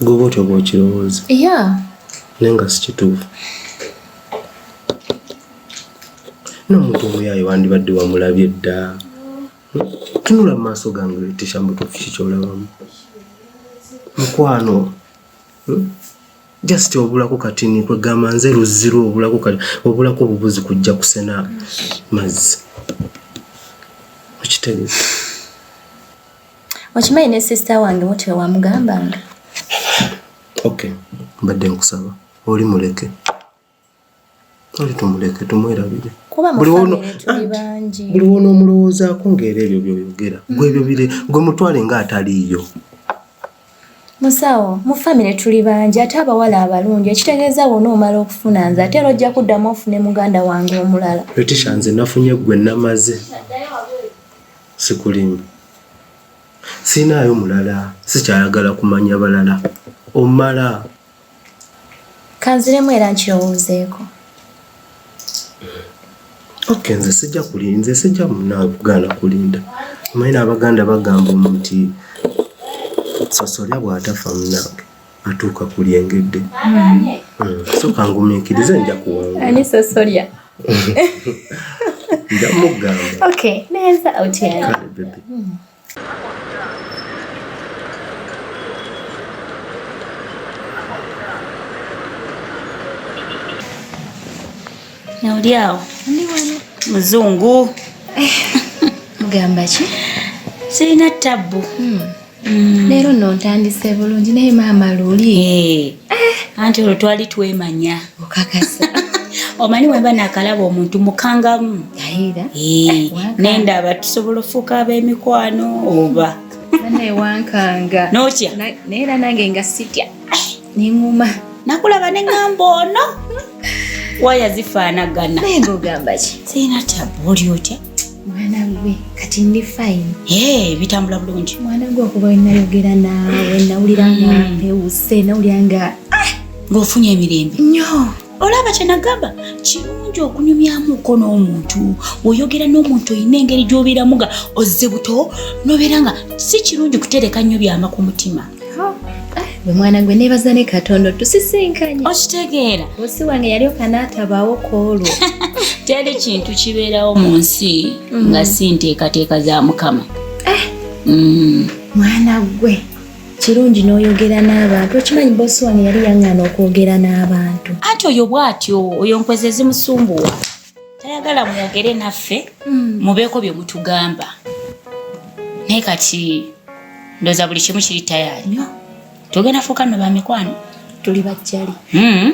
Goba otyo bwokirowooza. Yeah. Naye nga sikituufu. N'omuntu omuyaaye wandibadde wamulabye dda. Tunula mu maaso gange leetesha mbutuufu ki kyolabamu. Mukwano. Hmm? Just obulako kati ni kwegamba nze luzziru obulako kati obulako obubuzi kujja kusena mazzi. Okitegeeza. okimanyi ne sister wange mutyo wamugambanga okay mbadde nkusaba oli muleke oli tumuleke tumwerabire buli wona omulowoozaako ngaera ebyo byoyogera gwe ebyo bire gwe mutwale nga ataliiyo musawo mu famire tuli bangi ate abawala abalungi ekitegeeza wona omala okufuna nze ate era ojja kuddamu ofune muganda wange omulala etisha nze nafunye gwe namaze Sikulimu. Sirinaayo mulala. Sikyayagala kumanya balala. Omala. Kanziremu era nkirowoozeeko. Okay, nze sijja kuli nze sijja munakugaana kulinda omanyi n'abaganda bagamba omuti sosolya bw'atafa munange atuuka ku lyengedde hmm. Hmm. soka ngumiikirize nja kuwangaanisosolya nja mugamba neza otya oli awo muzungu eh, mugamba ki sirina tabbu hmm. Mm. leero no ntandise bulungi naye maama luli eh. eh. anti olwo twali twemanya okakasa omanyi wemba nakalaba omuntu mukangamu ayira eh, nenda aba tusobola ofuuka ab'emikwano oba naye wankanga notya naye era nange nga sitya nenguma nakulaba nengamba ono waya zifaanagana naye ngogamba ki sirina tabu oli otya mwana gwe kati ndi fine ee bitambula bulungi mwana gwe okuba wenayogera naawe nawulira nga mm. mpewuse nawulira nga ah! ng'ofunye emirembe nyo olaba kyenagamba kirungi okunyumyamuko n'omuntu oyogera n'omuntu olina engeri gy'obeeramu nga ozze buto nobeera nga si kirungi kutereka nnyo byama ku mutima gwe mwana gwe nebaza ne katonda tusisinkanye okitegeera osi wange yali okanaatabawo koolwo teri kintu kibeerawo mu nsi mm. nga si nteekateeka za mukama eh. mm. mwana gwe kirungi n'oyogera n'abantu okimanyi bosi wano yali yang'ana okwogera n'abantu anti oyo bw'atyo oyo nkwezi ezimusumbuwa tayagala mwogere naffe hmm. mubeeko bye mutugamba naye kati ndoza buli kimu kiri tayaanyo tugenda fuuka no bamikwano tuli bajjali hmm.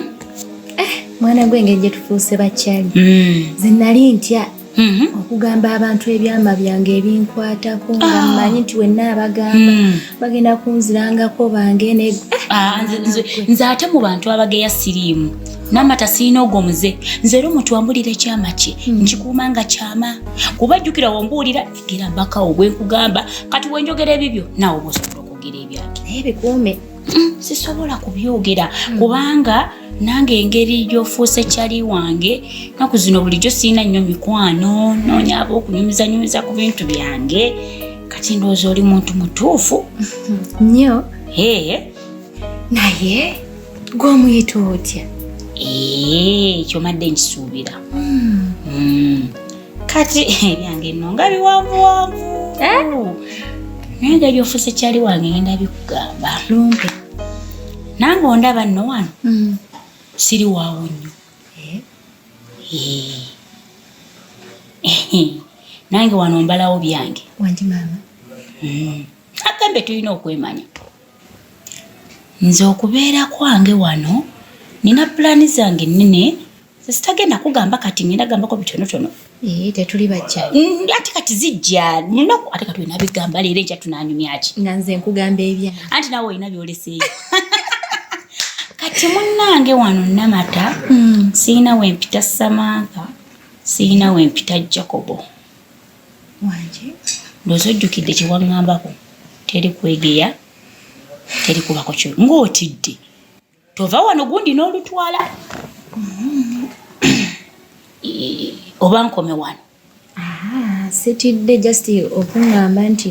eh, mwana gwe engeri gye tufuuse bajjali hmm. zinali ntya Mm-hmm. okugamba abantu ebyama byange ebinkwatako nga ah. mmanyi nti wenna abagamba mm. bagenda kunzirangako bange ah, nze ate mu bantu abageya siriimu namata sirina ogwo muze nze era omuntu wambulira ekyama kye mm. nkikuuma nga kyama kuba jjukira wambuulira egera mbakawo bwenkugamba kati wenjogera ebibyo naawe oba osobola okwogera ebyange naye bikuume mm, sisobola kubyogera kubanga nange engeri gyofuuse kyali wange naku zino bulijjo sirina nnyo mikwano noonya aba okunyumizanyumiza ku bintu byange kati ndowooza oli muntu mutuufu nnyo ee naye gwomuyita otya ee kyomadde nkisuubira hmm. Hmm. kati ebyange no nga biwanvuwanvu eh? naye nga gyofuuse kyali wange ngenda bikugamba lumpe nange ondaba nno wano mm. siri waawo nnyo eh? Eh. nange wano mbalawo byange mm. agambe tulina okwemanya nze okubeera kwange wano nina pulaani zange nnene sitagenda kugamba kati ngenda gambako bitonotono eh, tetuli bajja mm, ati kati zijja munaku ate kati olina bigamba leero enkya tunanyumyaki nga nze nkugamba ebya anti nawe olina byoleseeyo kati munnange wano namata hmm. sirina wempita samantha sirina wempita jacobo wanje ndoza ojjukidde kyewaŋŋambako teri kwegeya teri kubako kyo ng'otidde tova wano gundi n'olutwala oba nkome wano ah, sitidde just okuŋŋamba nti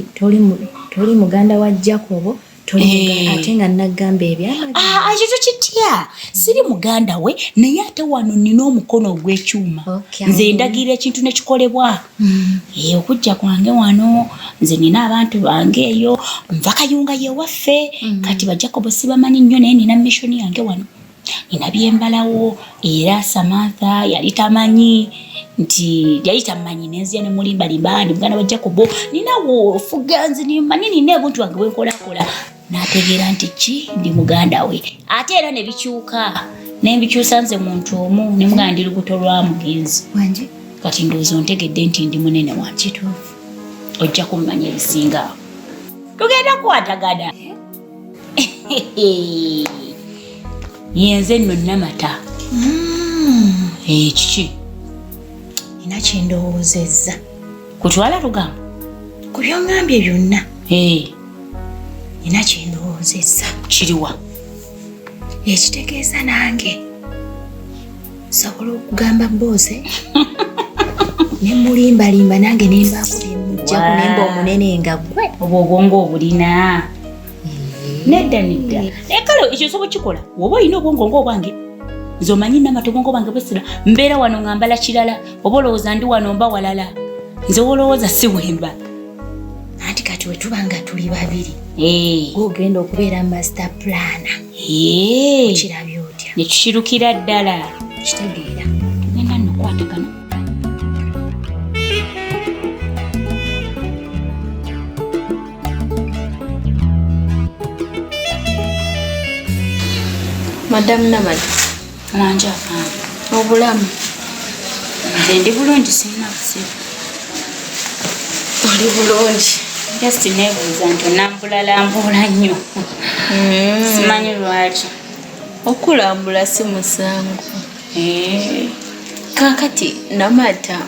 toli muganda wa jacobo eh. ate nga nagamba ebyakyo ah, tokitya siri muganda we naye ate wano nina omukono ogw'ekyuma nze ndagira ekintu nekikolebwa Mm. Eyo eh, okujja kwange wano nze nina abantu bange eyo nva kayunga yewaffe mm. kati bajakobo sibamanyi nnyo naye nina mission yange wano nina byembalawo era samantha yali tamanyi nti yali tamanyi nenzia nemulimbalimba ndi muganda wa jakobo ninawo ofuga nze nimanyi nina ebuntu wange bwenkolakola n'ategeera nti ki ndi muganda we ate era ne bikyuka naye mbikyusa nze muntu omu ne muganda ndi lubuto lwa mugenzi wange kati ndowooza ontegedde nti ndi munene wa kituufu ojja kummanya ebisinga tugenda kukwatagana yenze nno namata mm. ekiki eh, ina kyendowoozezza kutwala lugambo ku byongambye byonna nina kyendowoozezza kiriwa ekitegeeza nange nsobola okugamba booze ne mulimbalimba nange nembaako byemujjako nemba omunene nga gwe obwo obwongo obulina nedda nedda naye kale ekyo nsobola kikola woba olina obwongo ngaobwange nze omanyi namatogongo bange bwesira mbeera wano nga mbala kirala oba olowooza ndi wano mba walala nze wolowooza si wemba anti kati wetuba nga tuli babiri eh. ogenda okubeera master plana eh. okirabya otya nekikirukira ddala kitegeera tugenda nokwatagana madamu namadi Mwanja afande. Obulamu. Nze ndi bulungi sirina kusiba. Oli bulungi. Just nebuuza nti onambulalambuula nnyo. Mm. Simanyi lwaki. Okulambula si musango. Eh. Kakati namata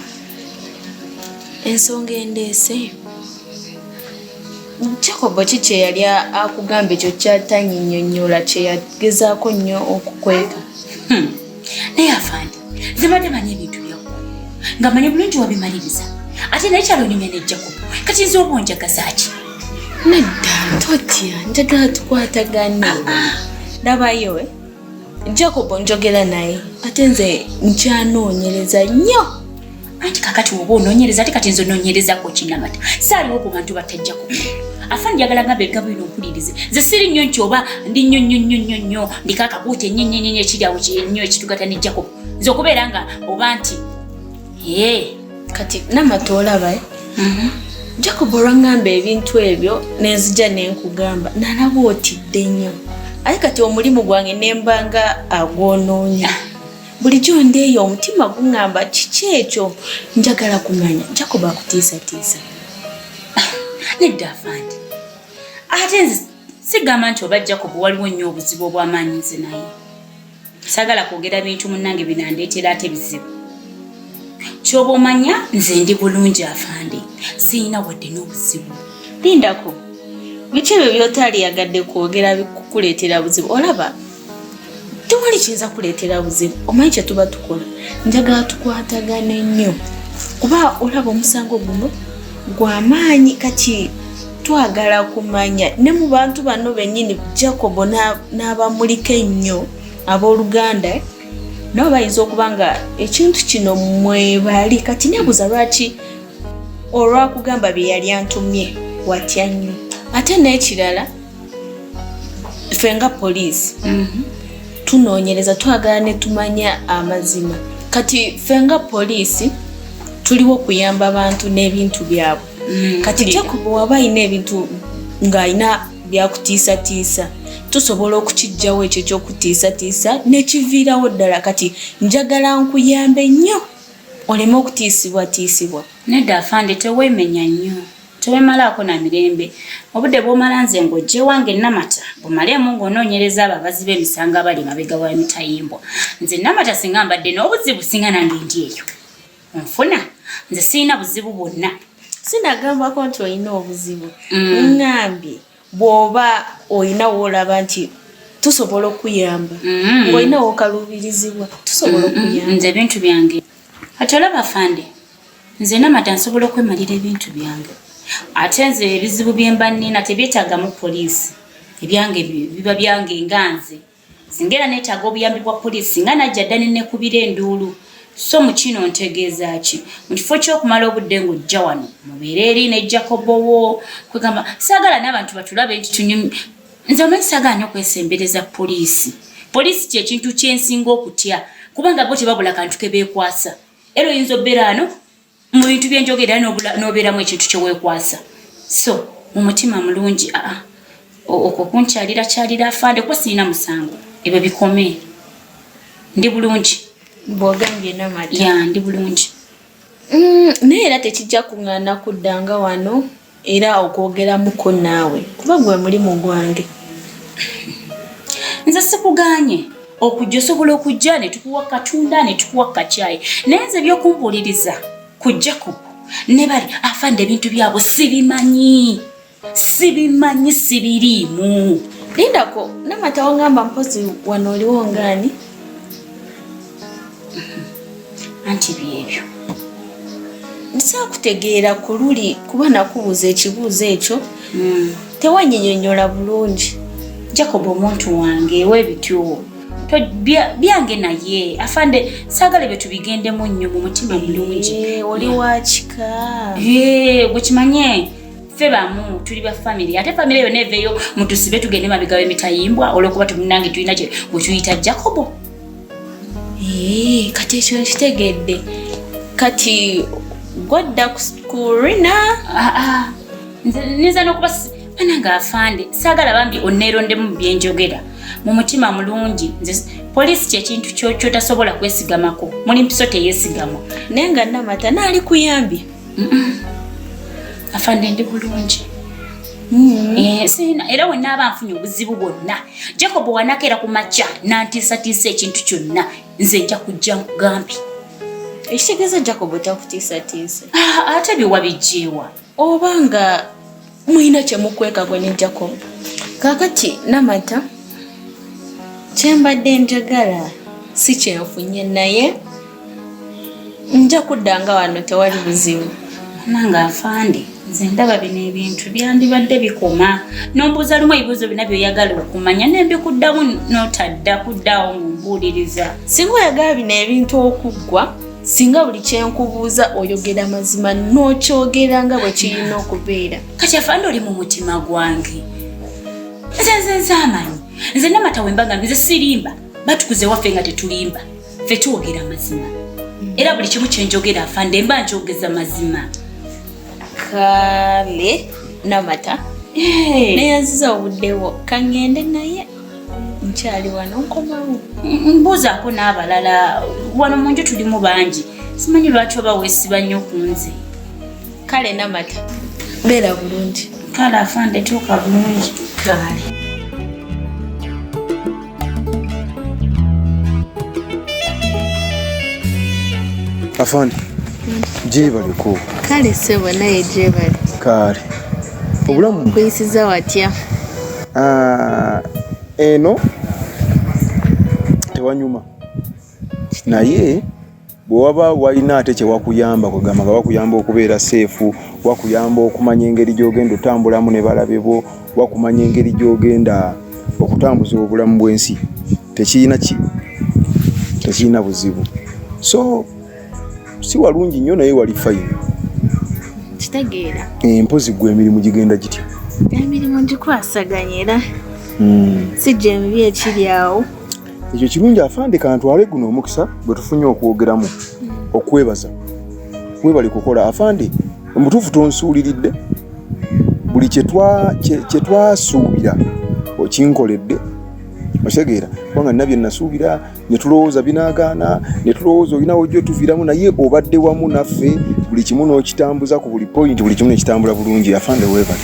ensonga endeese Jacob ki kye yali akugamba ekyo ky'atanyinyonnyola kye yagezaako nnyo okukweka? Hmm. Naye afande, nze mbadde manyi ebintu byakko nga manyi bulungi wabimaliriza ate naye kyalonyumya ne Jacob kati nze oba onjagaza ki? Nedda totya, njagala tukwatagane. Ah, ah. Ndabayo. Eh? Jacob njogera naye ate nze nkyanoonyereza nnyo anti kakati woba onoonyereza ate kati nze onoonyerezako kinamata saaliwo ku bantu batajjako afani njagala nga begga bwino mpulirize nze siri nnyo nti oba ndi nnyo nnyo nnyo nnyo nnyo ndiko akakuuta ennyenyenyenye ekiri awo nnyo ekitugata ne jacob nze okubeera nga oba nti ee kati namata olaba eh? mhm. jacob olwangamba ebintu ebyo nenzija nenkugamba nalaba otidde nnyo aye kati omulimu gwange nembanga agwonoonya bulijjo ndeeyo omutima guŋamba kiki ekyo njagala kumanya jacob akutiisatiisa nedda afandi ate nze sigamba nti oba jacob waliwo nnyo obuzibu obwamaanyi nze naye sagala kwogera bintu munange binandeetera ate bizibu kyoba omanya nze ndi bulungi afande siyina wadde n'obuzibu lindako biki ebyo byotaliyagadde kwogera bikukuleetera buzibu olaba tewali kiyinza kuleetera buzibu omanyi kyetuba tukola njagala tukwatagane nnyo kuba olaba omusango guno gwamaanyi kati twagala kumanya ne mu bantu bano bennyini jacobo n'abamuliko ennyo abooluganda nabo bayinza okuba nga ekintu kino mwebali kati nebuuza lwaki olwakugamba bye yali antumye watya nnyo ate n'ekirala ffe nga poliisi mhm. tunoonyereza twagala ne tumanya amazima kati ffe nga poliisi tuliwo kuyamba bantu n'ebintu byabwe mm, kati jacob waba alina ebintu ng'alina byakutiisatiisa tusobola okukijjawo ekyo ekyokutiisatiisa nekiviirawo ddala kati njagala nkuyambe nnyo oleme okutiisibwatiisibwa nedda afande tewemenya nnyo tewemalaako na mirembe obudde bwomala nze ng'ojjewange namata bumaleemu ng'onoonyereza abo abazi b'emisango abali mabega wa mitayimbwa nze namata singa mbadde n'obuzibu singa nange ndi eyo nfuna nze sirina buzibu bwonna sinagambako nti olina obuzibu mm. ngambye bwoba olina woolaba nti tusobola okuyamba mm. ngaolina wokaluubirizibwa tusobola mm, okuyamba nze ebintu byange ati olaba fande nze namata nsobola okwemalira ebintu byange ate nze ebizibu byemba nina tebyetagamu poliisi ebyange biba byange nga nze Singa era neetaaga obuyambi bwa poliisi singa najja dda ne nekubira enduulu. So mu kino ntegeeza ki? Mu kifo ky'okumala obudde ng'ojja wano mubeere eri ne Jacobo wo kwegamba saagala n'abantu batulabe nti tunyum nze omanyi saagala nnyo kwesembereza poliisi. Poliisi kye kintu kye nsinga okutya kubanga bo tebabula kantu ke beekwasa. Era oyinza obeera wano mu bintu byenjogera nobeeramu ekintu kyewekwasa so mu mutima mulungi aa ah, ah, okwo kunkyalira kyalira afande kuba sirina musango ebyo bikome ndi bulungi bwogambye namadi ya ndi bulungi mm, naye era tekijja kuŋŋaana kuddanga wano era okwogeramuko naawe kuba gwe mulimu gwange nze sikuganye okujja osobola okujja ne tukuwa katunda ne tukuwa kacyayi naye nze ebyokumbuuliriza ku jacob ne bali afande ebintu byabwe sibimanyi sibimanyi sibiriimu lindako namata wangamba mpozi wano oliwo ngaani anti byebyo nsakutegeera ku luli kuba nakubuuza ekibuuzo ekyo hmm. tewanyinyonyola bulungi jacob omuntu wange webityowo byange naye afande sagala ebyo tubigendemu nnyo mu mutima mulungi eh, oli wakika eh, gwekimanye ffe bamu tuli ba famiry ate famiry yona eveyo mutusibe tugende mabega wemitayimbwa olwokuba tumunange tulina gwe tuyita jacobo Eee, eh, kati ekyo nkitegedde kati gwadda ku rina ah, ah. nza nokuba ana nga afande sagala bambi onerondemu byenjogera mu mutima mulungi nze poliisi kyekintu kyotasobola kwesigamako muli mpiso teyesigama naye nga namata naali kuyambi afande ndi bulungi mm. eh, era wenaaba nfunye obuzibu bwonna jacob wanakeera ku makya nantiisatiisa ekintu kyonna nze nja kujja nkugambi ekitegeeza jacob takutiisatiisa ah, ate biwabijjeewa oba nga mulina kyemukweka gwe ne jacob kakati namata kyembadde njagala si kyenfunye naye nja kuddanga wano tewali buzibu nange afande nze ndaba bino ebintu byandibadde bikoma nombuuza lumu ebibuuzo bina byoyagala okumanya nembikuddamu notadda kuddaawo mumbuuliriza singa oyagala bino ebintu okuggwa singa buli kyenkubuuza oyogera mazima nokyogera nga bwe kirina okubeera kati afande oli mu mutima gwange nze nze nze amanyi nze namata wemba nga nze sirimba batukuze waffe nga tetulimba ffe twogera mazima era buli kimu kyenjogera afande mba njogeza mazima kale namata neyanziza obuddewo kangende naye nkyali wano nkomawo mbuuzaako n'abalala wano mu nju tulimu bangi simanyi lwaki oba weesiba nnyo ku nze kale namata beera bulungi kale afande tuuka bulungi kale afande gyebale ku kale sebo naye gyebale kale obulamu kuyisiza watya ah, eno tewanyuma naye Bwe waba walina ate kye wakuyamba kwegamba nga wakuyamba okubeera seefu, wakuyamba okumanya engeri gy'ogenda otambulamu ne balabe bo, wakumanya engeri gy'ogenda okutambuza obulamu bw'ensi tekirina ki tekirina buzibu so si walungi nnyo naye wali fayini kitegeera empozi eh, gwe emirimu gigenda gitya emirimu gikwasaganya era hmm. si gyemibi ekiri awo ekyo kirungi afande kantwale guno omukisa bwe tufunye okwogeramu okwebaza webali kukola afande omutuufu tonsuuliridde buli kyetwasuubira okinkoledde otegeera kubanga nina byenasuubira netulowooza binagaana netulowooza olinawo gyotuviramu naye obadde wamu naffe buli kimu n'okitambuza ku buli point buli kimu nekitambula bulungi afande webali